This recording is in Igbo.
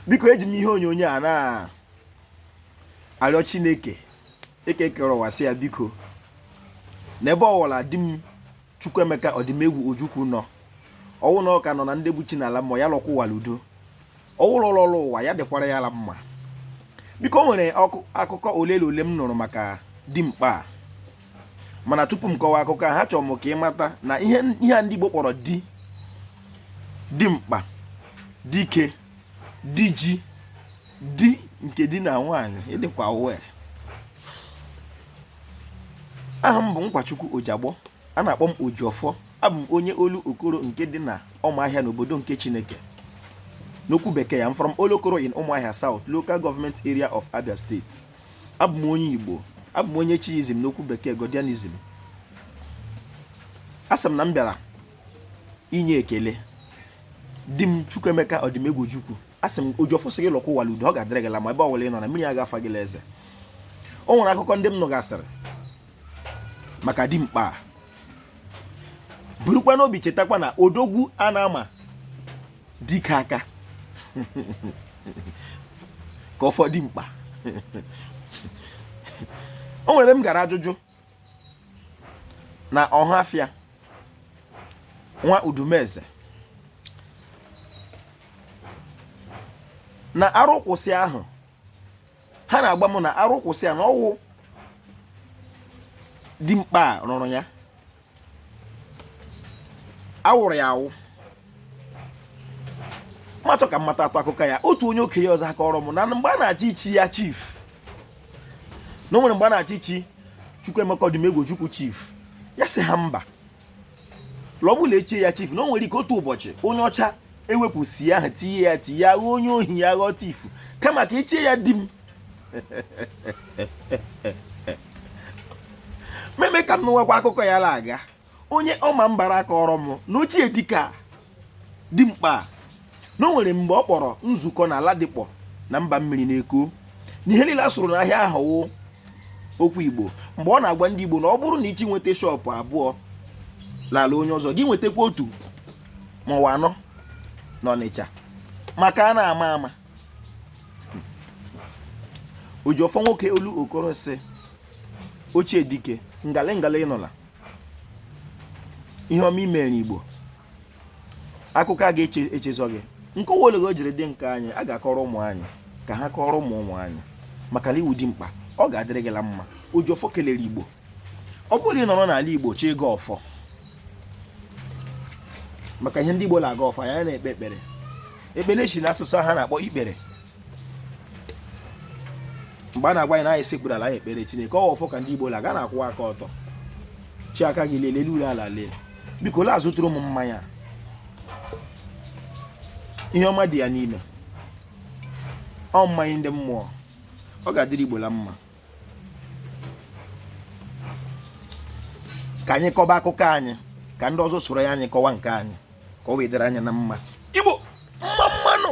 biko eji m ihe onyonyo a na-arịọ chineke eke kere ụwa sị ya biko n'ebe ọwụla dim chukwuemeka odimegwu ojukwu nọ ọ wụ na ọ ka nọ na ndị bụ chi n'ala mmụọ ya lọkwa ụwa la udo ọ wụ la ọ lọla ụwa ya dịkwara ya la mma biko o nwere akụkọ ole na ole m nụrụ maka dimkpa a mana tupu m kọwa akụkọ a achọrọ m ka ị mata na ihe a ndị Igbo kpọrọ di dimkpa dike diji di nke di na nwaanyị ịdịkwa uwe aha m bụ Nkwachukwu Ojagbọ a na-akpọ m Ojiọfọ abụ m onye olokoro nke dị na ụmụahịa n'obodo nke chineke n'okwu bekee i'm from olokoro in ụmụahịa south local government area of abia state abụ m onye igbo abụ m onye chiizm n'okwu bekee godianism asị m na m bịara inye ekele dim chukwuemeka odimegwu ojukwu asị m ojiọfọ sị gị lọkwa ụwa l'udo ọ ga-adịrị gị la mma ebe ọwụla ị nọ na mmiri aga afa gị la eze o nwere akụkọ ndị m nụgasịrị maka dimkpa a burukwa n'obi chetakwa na odogwu a na-ama dike aka ka ọfọ dimkpa o nwere m gara ajụjụ na ọhafịa nwa udumeze na arụkwụsị ahụ ha na-agwa m na arụkwụsị a na ọ wụ dimkpa a rụrụ ya a wụrụ ya awụ m achọọ ka m matatụ akụkọ ya otu onye okenye ọzọ akọọrọ m na mgbe a na-achọ ichi ya chief na o nwere mgbe a na-achọ ichi Chukwuemeka Odimegwu Ojukwu chief ya sị ha mba l'ọ bụ la e chie ya chief na o nwere ike otu ụbọchị onye ọcha ewepụ c ahụ tinye ya t ya ghọọ onye ohi ya ghọọ thief kama ka e chie ya dim m emee ka m nụwakwa akụkọ ya la aga onye ọmambara akọọrọ m na ochie dike a dimkpa a na o nwere mgbe ọ kpọrọ nzukọ na ladipo na mba mmiri na eko na ihe niile a sụrụ n'ahịa ahụ wụ okwu igbo mgbe ọ na-agwa ndị igbo na ọ bụrụ na ị chọ inweta shop abụọ l'ala onye ọzọ gị nwetakwa otu ma ọ wụ anọ na ọnịcha maka a na-ama ama ojiọfọ nwoke olokoro sị ochie dike ngale ngale ị nụla ihe ọma i mere igbo akụkọ a ga-echezọ gị nkọwa olego jiri dị nke anyị a ga-akọrọ ụmụ anyị ka ha kọrọ ụmụ ụmụ anyị maka na ị wụ dimkpa ọ ga-adịrị gị la mma oji ọfọ kelere igbo ọ bụrụ ị nọrọ n'ala igbo chi ịgọ ọfọ maka ihe ndị igbo na-agọ ọfọ anyị ana-ekpe ekpere ekpere si n'asụsụ ha na-akpọ ikpere mgbe a na-agwa anyị na anyị sekpuru ala anyị ekpere chineke ọ wụ ọfọ ka ndị igbo la-agọ a na-akwụwa aka ọtọ chi aka gị lee elu lee ala lee biko la azụtụrụ m mmanya ihe ọma dị ya n'ime ọ mmanya ndị mmụọ ọ ga-adịrị igbo la mma ka anyị kọba akụkọ anyị ka ndị ọzọ soro ya anyị kọwa nke anyị ka ọ wee dịrị anyị na mma igbo mma mma nụ